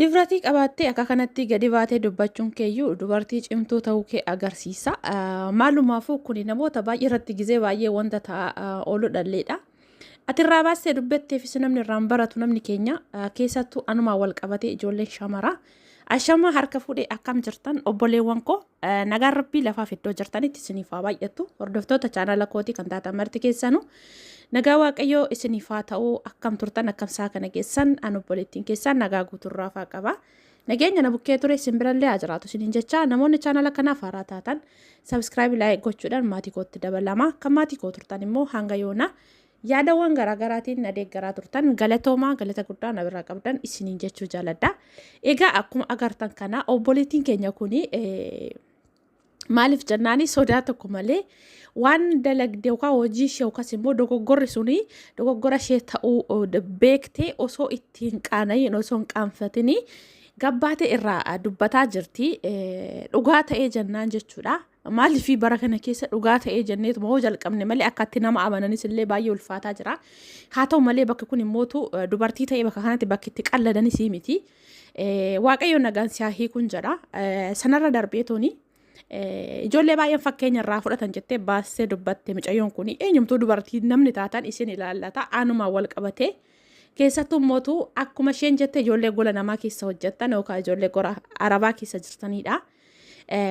Difratii qabaattee akka kanatti gadi baatee dubbachuun keeyyuu dubartii cimtuu ta'uu kee agarsiisa. Maalumaafuu kuni namoota baay'ee irratti gizee baay'ee wanta ta'a oolu dhalleedha. Ati irraa baastee dubbatteefis namni irraan baratu namni keenya keessattuu anumaa wal qabatee ijoolleen shamaraa. Ashamaa harka fuudhee akkam jirtan obboleewwan koo nagaan rabbii lafaaf iddoo jirtanitti isiniif haa baay'attu hordoftoota chaanala kootii kan taatan marti keessanuu Nagaa Waaqayyoo isiniif haa ta'u akkam turtan akkam isaa kana geessan an obboleettiin keessaan nagaa guuturraa faa qaba. Nageenya na bukkee ture isin birallee haa jiraatu isiniin jecha namoonni chaanala kanaaf haaraa taatan sabiskiraayib laayik gochuudhaan maatii kootti dabalama kan maatii koo turtan immoo hanga yoona yaadawwan garaagaraatiin na deeggaraa turtan galatoomaa galata guddaa na biraa qabdan isiniin jechuu jaaladha. Egaa akkuma agartan kana obboleettiin keenya kuni Maaliif jennaani sodaa tokko malee waan dalagde yookaan hojii ishee yookaas immoo dogoggorri suni dogoggora ishee ta'uu beektee osoo itti hin qaanayin osoo hin qaanfatini gabbaate irraa dubbataa jirti. Dhugaa ta'ee jennaan jechuudha. Maaliif bara kana keessa dhugaa ta'ee jenneetuma hoo jalqabne malee akkatti nama amananis illee baay'ee ulfaataa jira. Haa ta'u malee bakki kun immootu dubartii ta'ee bakka kanatti bakki itti qalladanis miti. Waaqayyoon nagaan si haa hiikuun jedha. Sanarra darbee tooni ijoollee baay'een fakkeenya irraa fudhatan jettee baastee dubbatte mucayyoon kun eenyumtuu dubartii namni taatan isin ilaallata aanumaa wal qabatee keessattuu mootu akkuma isheen jette ijoollee gola namaa keessa hojjettan yookaan ijoollee gora arabaa keessa jirtanidha.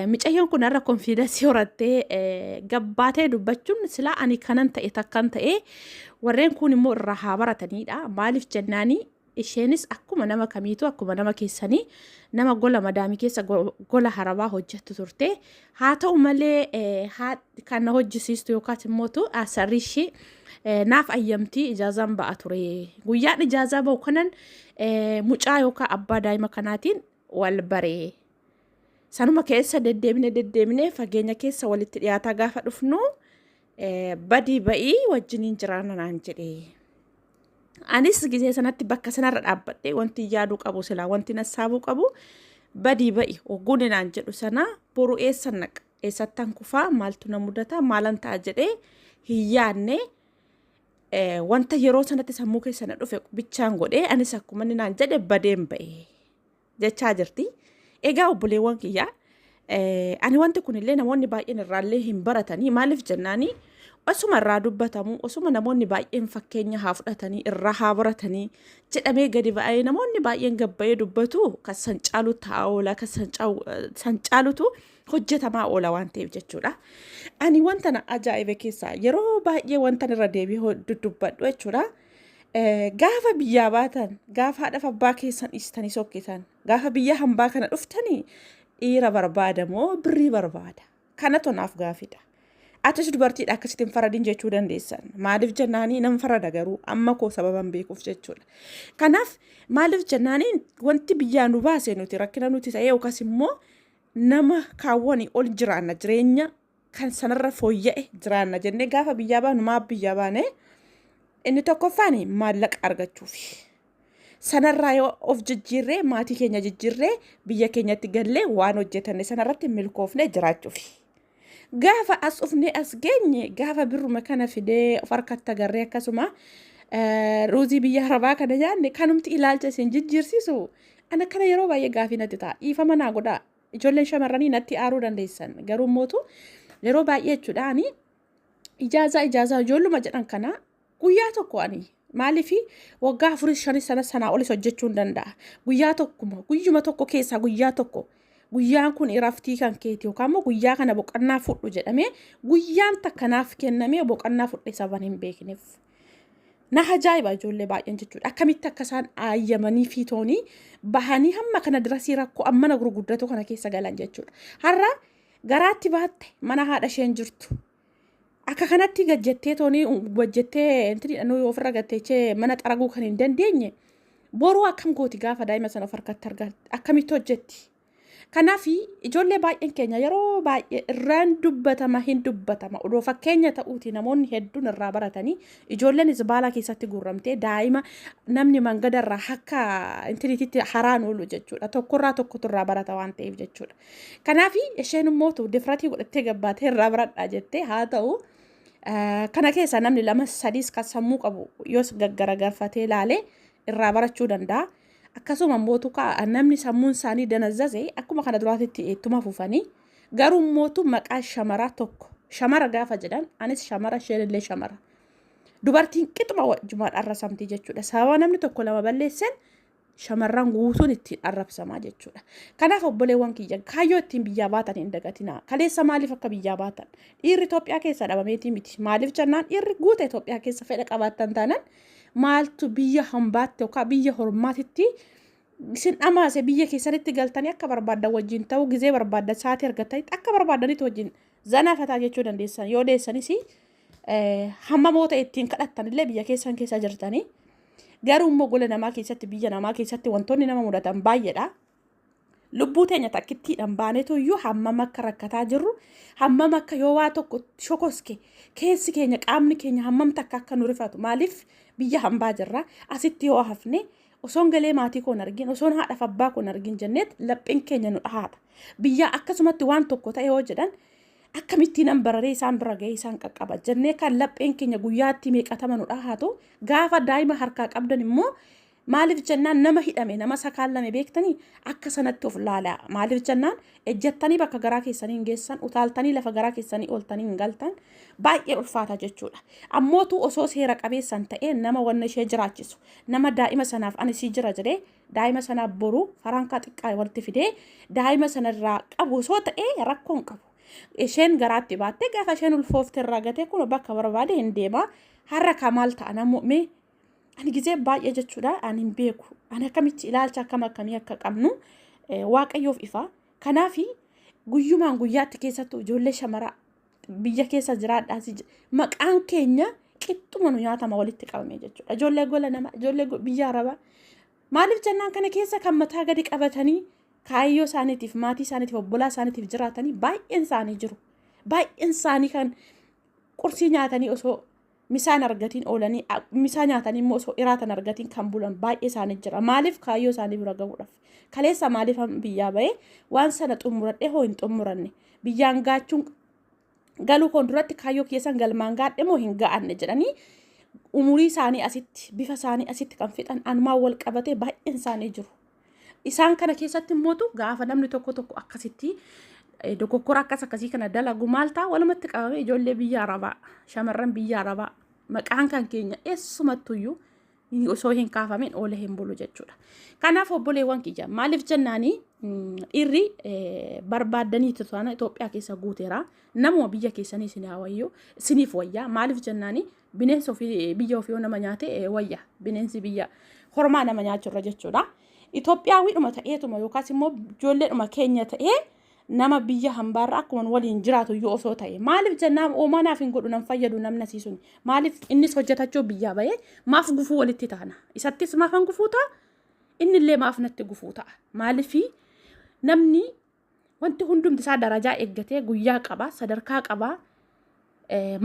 Mucayyoon kun har'a konfiidansii horattee gabbaatee dubbachuun silaa ani kanan ta'e takkan ta'e warreen kun immoo irraa haa baratanidha. Maaliif jennaanii Isheenis akkuma nama kamiituu akkuma nama keessanii nama gola madaamii keessa gola harabaa hojjettu turte. Haa ta'u malee kan na hojjisiistu yookaas immoo asarri ishee naaf ayyamtii ijaazaan ba'a ture. Guyyaan ijaazaa ba'u kanan mucaa yookaan abbaa daa'ima kanaatiin wal baree. Sanuma keessa deddeebine deddeebine fageenya keessa walitti dhiyaataa gaafa dhufnu badii ba'ii wajjiniin jiraanna naan jedhe. Anis gisee sanatti bakka sanarra dhaabbadhe wanti yaaduu qabu silaa wanti nassaabuu qabu badii ba'i ogguuni naan jedhu sana boru eessa naqa eessattan kufaa maaltu na mudata maalan ta'a jedhee hin yaadne wanta yeroo sanatti sammuu keessa na dhufe bichaan godhee anis akkuma inni naan jedhe badeen ba'e. jechaa jirti. Egaa obboleewwan kiyyaa ani wanti kunillee namoonni baay'een irraallee hin baratanii maaliif jennaanii osuma irraa dubbatamu osuma namoonni baay'een fakkeenya haa fudhatanii irraa haa baratanii jedhamee gadi ba'ee namoonni baay'een gabbayee dubbatu kan san caalu taa'aa oola kan san caalutu hojjetamaa oola waan ta'eef jechuudha. Ani wanta na ajaa'ibe keessaa yeroo baay'ee wanta irra deebi'ee dubbadhu jechuudha. Gaafa biyyaa baatan, gaafa haadhaaf abbaa keessan dhiistanii sokkitan, gaafa biyya hambaa kana dhuftanii dhiira barbaada moo birrii barbaada? Kana tonaaf gaafidha. Atis dubartiidha akkasitti hin faradin jechuu dandeessan. Maaliif jennaanii nan farada garuu amma koo sababan beekuuf jechuudha. Kanaaf maaliif jennaanii wanti biyyaa nu baase nuti rakkina nuti ta'ee yookaas immoo nama kaawwanii ol jiraanna jireenya kan sanarra fooyya'e jiraanna jennee gaafa biyyaa baanu maaf biyyaa baane inni tokkoffaan maallaqa argachuufi. Sanarraa yoo of jijjiirree maatii keenya jijjiirree biyya keenyatti gallee waan hojjetanne sanarratti milkoofnee jiraachuufi. Gaafa as dhufnee as geenye gaafa birruma kana fidee of harkatti agarree akkasuma eh, ruuzii biyya arabaa kana nyaanne kanumti ilaalcha isin jijjiirsisu ana kana yeroo baay'ee gaafii natti ta'a dhiifama naa godhaa. Ijoolleen shamarranii natti aaruu dandeessan garuu mootu yeroo baay'ee jechuudha ani ijaazaa ijaazaa ijoolluma jedhan kana guyyaa tokko ani maaliif waggaa afurii shanii sana sanaa olis hojjechuu hin danda'a guyyaa tokkuma guyyuma tokko keessaa guyyaa tokko guyyaan kun iraftii kan keeti yookaan immoo guyyaa kana boqannaa fudhu jedhamee guyyaan takkanaaf kennamee boqannaa fudhe saban hin beekneef. na ajaa'iba ijoollee baay'een jechuudha. Akkamitti akka isaan aayyamanii fiitoonii bahanii hamma kana dirasii rakkoo ammana gurguddatu kana keessa galan jechuudha. Har'a garaatti baatte mana haadha isheen jirtu. Akka kanatti gajjettee toonii gajjettee intinidha nuyi ofirra gatteechee mana xaraguu kan hin dandeenye boruu akkam gooti gaafa daa'ima sana of harkatti argatte akkamitti hojjetti Kanaaf ijoollee baay'een keenya yeroo baay'ee irraan dubbatama hin dubbatama. Odoo fakkeenya ta'uuti namoonni hedduun irraa baratanii ijoolleen zibaalaa keessatti guurramtee daa'ima namni mangada irraa akka intiniititti haraan oolu jechuudha. Tokkorraa tokkotu irraa barata waan ta'eef jechuudha. Kanaaf isheen immoo difratii godhattee gabbaatee irraa baradhaa jettee haa ta'u. Kana keessaa namni lama sadiis kan sammuu qabu yoos gaggaragarfatee ilaalee irraa barachuu danda'a. Akkasuma immoo tuqaa namni sammuun isaanii danazzase akkuma kana duraatitti ittuma fufanii garuu mootu maqaa shamaraa tokko shamara gaafa jedhan anis shamara isheen illee shamara. Dubartiin qixuma wajjumaan arrasamti jechuudha. Sababa namni tokko lama balleessan shamarran guutuun ittiin arrabsamaa jechuudha. Kanaaf obboleewwan kiyya kaayyoo ittiin biyyaa baatan hin dagatinaa. Kaleessa maaliif akka biyyaa baatan? Dhiirri Itoophiyaa keessa dhabameetii miti. Maaliif jennaan dhiirri guuta Itoophiyaa keessa fedha qabaattan taanaan maaltu biyya hambaatti yookaan biyya hormaatitti isin dhamaase biyya keessanitti galtanii akka barbaaddan wajjin ta'uu gizee barbaaddan sa'aatii argattanitti akka barbaadanitti wajjin zanaa fataa jechuu dandeessan yoo deessanis hammamoota ittiin kadhattan illee biyya keessan keessa jirtanii garuu immoo gola namaa keessatti biyya namaa keessatti wantoonni nama mudatan baay'eedha. lubbuu teenya takkittiidhaan baanetu iyyuu hammam akka rakkataa jirru hammam akka yoo waa tokko shokoske keessi keenya qaamni keenya hammam takka akka nu rifatu maaliif biyya hambaa jirra asitti yoo hafne osoon galee maatii koon argin osoon haadhaaf abbaa koon argin jenneet lapheen keenya nu dhahaata biyya akkasumatti waan tokko ta'e yoo jedhan akkamittiin an bararee isaan bira ga'ee isaan qaqqaba jennee kan lapheen keenya guyyaatti meeqatama nu dhahaatu gaafa daa'ima harkaa qabdan immoo Maaliif jennaan nama hidhame nama sakaallame beektanii akka sanatti of laalaa. Maaliif jennaan ejjattanii bakka garaa keessanii hin geessan utaaltanii lafa garaa keessanii ooltanii hin galtan baay'ee ulfaata jechuudha. Ammootu osoo seera qabeessan ta'ee nama wanna ishee jiraachisu nama daa'ima sanaaf ani sii jira jedhee daa'ima sanaaf boru farankaa xiqqaa walitti fidee daa'ima sanarraa qabu osoo ta'ee rakkoo hin qabu. Isheen garaatti baattee gaafa isheen ulfoofte irraa gatee kun bakka barbaade hin deema. Har'a kaa maal ta'a namuu mee ani gizee baay'ee jechuudha ani hin beeku ani akkamitti ilaalcha akkam akkamii akka qabnu eh, waaqayyoof ifa kanaaf guyyumaan guyyaatti keessattuu ijoollee shamaraa biyya keessa jiraadhaa si je- maqaan keenya qixxuma nu nyaatama walitti qabame jechuudha ijoollee gola nama ijoollee go- biyya arabaa maaliif jennaan kana keessa kan mataa gadi qabatanii kaayyoo isaaniitiif maatii isaaniitiif obbolaa isaaniitiif jiraatanii baay'een isaanii jiru baay'een isaanii kan qursii nyaatanii osoo misaa hin argatiin oolanii misaa nyaatanii immoo osoo iraata hin argatiin kan bulan baay'ee isaanii jira maaliif kaayyoo isaanii bira gahuudhaaf kaleessa maaliif biyyaa bahee waan sana xumuradhee hoo hin xumuranne biyyaan gaachuun galuu koon duratti kaayyoo keessan galmaan gaadhe moo hin ga'anne jedhanii umurii isaanii asitti bifa isaanii asitti kan fixan anumaan wal qabatee baay'een isaanii jiru Isaan kana keessatti immootu gaafa namni tokko tokko akkasitti eh, dogoggora akkas akkasii kana dalagu maal ta'a walumatti qabame ijoollee biyya arabaa shamarran biyya arabaa maqaan kan keenya eessumattuyyuu hin- osoo hin kaafamin oole hin bulu jechuudha. Kanaaf obboleewwan kiyya maaliif jennaanii mm, dhiirri eh, barbaaddanii tutan Itoophiyaa keessa guuteera. Namuma biyya keessanii isin haa wayyu isiniif wayyaa maaliif jennaanii Bineensi ofii biyya ofii yoo nama nyaate eh, wayya bineensi biyya hormaa nama nyaachurra jechuudha. Itoophiyaawidhuma ta'eetuma yookaas immoo ijoolleedhuma keenya ta'ee nama biyya hambaarra akkuma waliin jiraatu yoo osoo ta'e maaliif jennaan oomaa naaf hin godhu nan fayyadu namni asii suni maaliif innis hojjetachuu biyyaa bahee maaf gufuu walitti taana isattis maafan gufuu ta'a innillee maaf natti gufuu ta'a maaliif namni Wanti hundumti isaa darajaa eeggatee guyyaa qaba, sadarkaa qaba.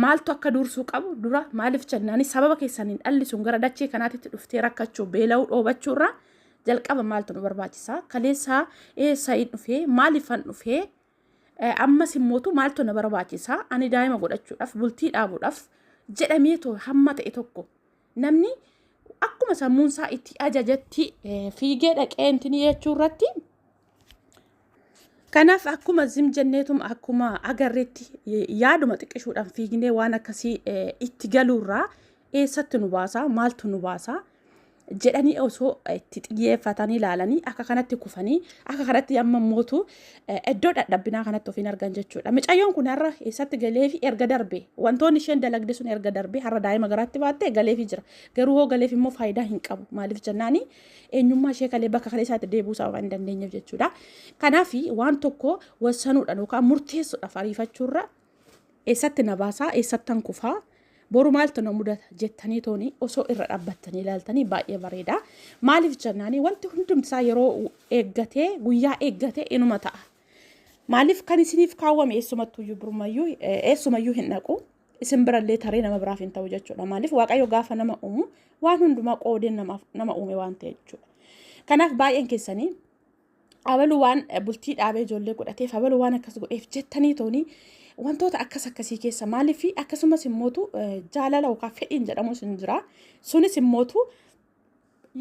Maaltu akka dursuu qabu dura maaliif jennaan sababa keessaniin dhalli sun gara dachee kanaatitti dhuftee rakkachuu beela'uu dhoobachuu irraa jalqaba maaltu nu barbaachisa? Kaleessaa eessa hin dhufee? Maaliif hin dhufee? Ammas immootu maaltu na barbaachisa? Ani daa'ima godhachuudhaaf, bultii dhaabuudhaaf jedhamee too hamma ta'e tokko namni akkuma sammuun isaa itti ajajetti fiigee dhaqee intini jechuu irratti Kanaaf akkuma zim jenneetum akkuma agarreetti yaaduma xiqqishuudhaan fiignee waan akkasii itti galuurraa eessatti nu baasaa maaltu nu baasaa jedhanii osoo itti xiyyeeffatanii ilaalanii akka kanatti kufanii akka kanatti amma mootu iddoo dhadhabbinaa kanatti ofiin argan jechuudha. Micayyoon kun har'a eessatti galee fi erga darbee wantoonni isheen dalagde sun erga darbee har'a daa'ima garaatti baattee galee fi jira. Garuu hoo galee fi immoo faayidaa hin qabu maaliif jennaanii eenyummaa ishee kalee bakka kalee isaatti deebuu isaa waan hin dandeenyeef jechuudha. Kanaaf waan tokko wassanuudhaan yookaan murteessuudhaaf ariifachuurra eessatti na baasaa eessattan kufaa boru maaltu na mudata jettanii tooni osoo irra dhaabbattanii ilaaltanii baay'ee bareeda. Maaliif jennaanii wanti hundumti isaa yeroo eeggatee guyyaa eeggatee inuma ta'a. Maaliif kan isiniif kaawwame eessumattuyyuu birmayyuu eessumayyuu hin dhaqu. isin birallee taree nama biraaf hin ta'u jechuudha. Maaliif Waaqayyo gaafa nama uumu waan hundumaa qoodee namaaf nama uume waan ta'e jechuudha. Kanaaf baay'een keessanii abaluu waan bultii dhaabee ijoollee godhateef abaluu waan akkas godheef jettanii toonii wantoota akkas akkasii keessa maaliif akkasumas immootu jaalala yookaan fedhiin jedhamus hin jira. Sunis immootu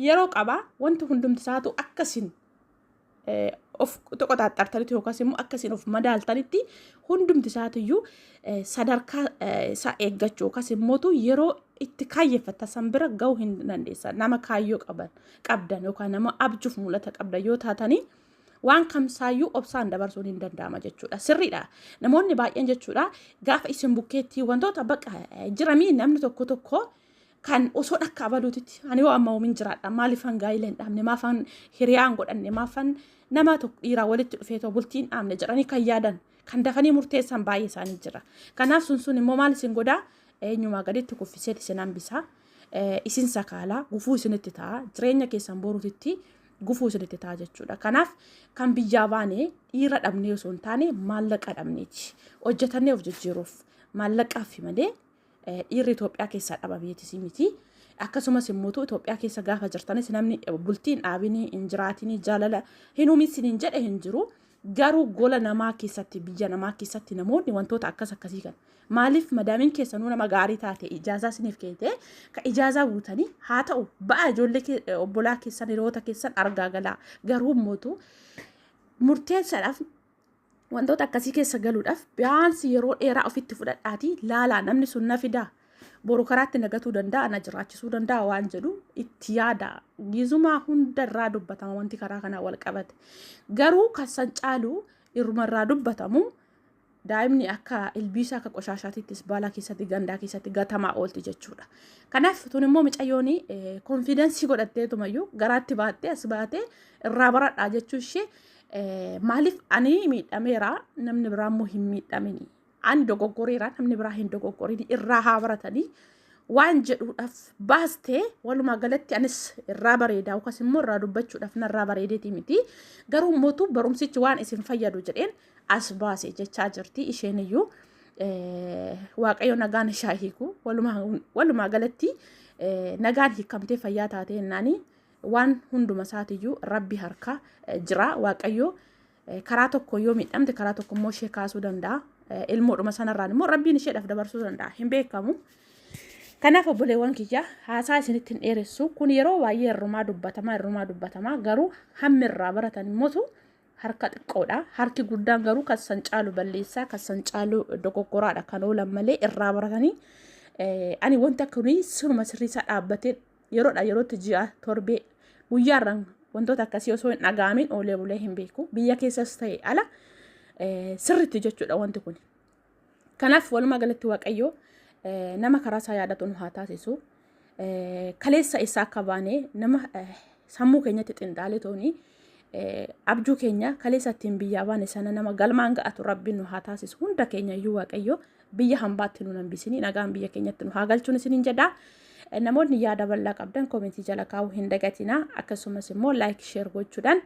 yeroo qabaa wanti hundumti isaatu akkasiin of qoxaaxartanitti yookaas immoo akka isin of madaaltanitti hundumti isaatiyyuu sadarkaa isaa eeggachuu yookaas immootu yeroo itti kaayyeffatan san bira ga'uu hin dandeessan nama kaayyoo qaban qabdan yookaan nama abjuuf mul'ata qabdan yoo taatanii waan kamsaayyuu obsaan dabarsuun hin danda'ama jechuudha. Sirriidha. Namoonni baay'een jechuudha gaafa isin bukkeetti wantoota baqa jiramii namni tokko tokko kan osoo dhakka abaluutitti ani yoo amma homin jiraadha maaliifan gaa'ila hin dhaabne maafan hiriyaa hin godhanne maafan nama tokko dhiiraa walitti dhufee too bultii hin dhaabne jedhanii kan yaadan kan dafanii murteessan baay'ee isaanii jira. Kanaaf sun sun immoo maal isin godhaa eenyumaa gaditti kuffiseet isin hambisaa isin sakaalaa gufuu isinitti ta'a jireenya keessan boruutitti gufuu isinitti ta'a jechuudha. Kanaaf kan biyyaa baane dhiira dhabnee osoo hin taane maallaqa dhabneeti hojjetannee of jijjiiruuf maallaqaaf malee Dhiirri Itoophiyaa keessaa dhaba beetisii miti. Akkasumas immoo Itoophiyaa keessa gaafa jirtanis namni bultiin dhaabinii hin jiraatinii jaalala hin uumisin hin jedhe hin jiru. Garuu gola namaa keessatti biyya namaa keessatti namoonni wantoota akkas akkasii kan maaliif madaamiin keessanuu nama gaarii taate ijaazaa isiniif keete ka ijaazaa guutanii haa ta'u ba'a ijoollee obbolaa keessan hiriyoota keessan argaa galaa garuu mootu murteessaadhaaf wantoota akkasii keessa galuudhaaf biyaansi yeroo dheeraa ofitti fudhadhaatii laalaa namni sun na fidaa boru karaatti nagatuu danda'a na jiraachisuu danda'a waan jedhu itti yaada gizumaa hunda irraa dubbatama wanti karaa kanaa wal qabate garuu kan san caalu irruma irraa dubbatamu daa'imni akka ilbiisa akka qoshaashaatittis baala keessatti gandaa keessatti gatamaa oolti jechuudha. Kanaaf tun immoo micayyoon konfiidensii godhatteetumayyuu garaatti baattee as baatee irraa baradhaa jechuu ishee Maaliif ani miidhameera namni biraa immoo hin miidhamini. Ani dogoggoreera namni biraa hin dogoggorini irraa haa baratanii waan jedhuudhaaf baastee walumaa galatti anis irraa bareedaa yookaas immoo irraa dubbachuudhaaf narraa bareedeeti miti. Garuu mootu barumsichi waan isin fayyadu jedheen as baase jechaa jirti isheen iyyuu waaqayyo nagaan ishaa hiiku walumaa galatti nagaan hiikamtee fayyaa taatee naanii. Waan hunduma isaatiyyuu rabbi harka jira waaqayyo karaa tokko yoo miidhamte karaa tokko immoo ishee kaasuu danda'a. Ilmoodhuma sanarraan immoo rabbiin isheedhaaf dabarsuu danda'a hin beekamu. Kanaaf obboleewwan kiyya haasaa isinitti hin dheeressu kun yeroo baay'ee irrumaa dubbatamaa irrumaa dubbatamaa garuu hammi irraa baratan immoo harka xiqqoodha. Harki guddaan garuu kan san caalu balleessaa kan san caalu dogoggoraadha kan oolan malee irraa baratanii ani wanta kuni siruma sirriisaa dhaabbatee yeroodha yerootti ji'a torbee guyyaarraan wantoota akkasii osoo hin dhaga'amin oolee bulee hin beeku biyya keessas ta'e ala sirritti jechuudha wanti kun kanaaf walumaa galatti waaqayyoo nama karaa isaa yaadatu nu haa taasisu kaleessa isaa akka baane nama sammuu keenyatti xinxaalitooni abjuu keenya kaleessa ittiin biyyaa baane sana nama galmaan ga'atu rabbiin nu haa taasisu hunda keenya iyyuu waaqayyo biyya hambaatti nu nambisini nagaan biyya keenyatti nu haa galchuun isiniin jedha. Namoonni yaada bal'aa qabdan koomentii jala kaa'uu hin dagatina akkasumas immoo laayik sheer gochuudhaan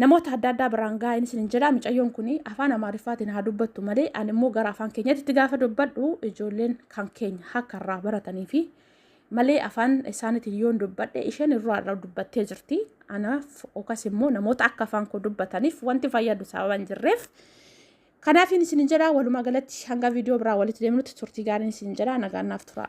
namoota adda addaa biraan gaa'een isiniin jedha mucayyoon kun afaan amaariffaatiin haa dubbattu malee ani immoo gara afaan keenyatti itti gaafa dubbadhu ijoolleen kan keenya akka irraa baratanii fi malee afaan isaaniitiin yoon dubbadhe isheen irraa irraa dubbattee jirti. Anaaf yookaas immoo namoota akka afaan koo dubbataniif wanti fayyadu sababa hin jirreef. Kanaafiin isin jedha walumaa galatti hanga viidiyoo biraa walitti deemnutti turtii gaariin isin jedha nagaan naaf tura.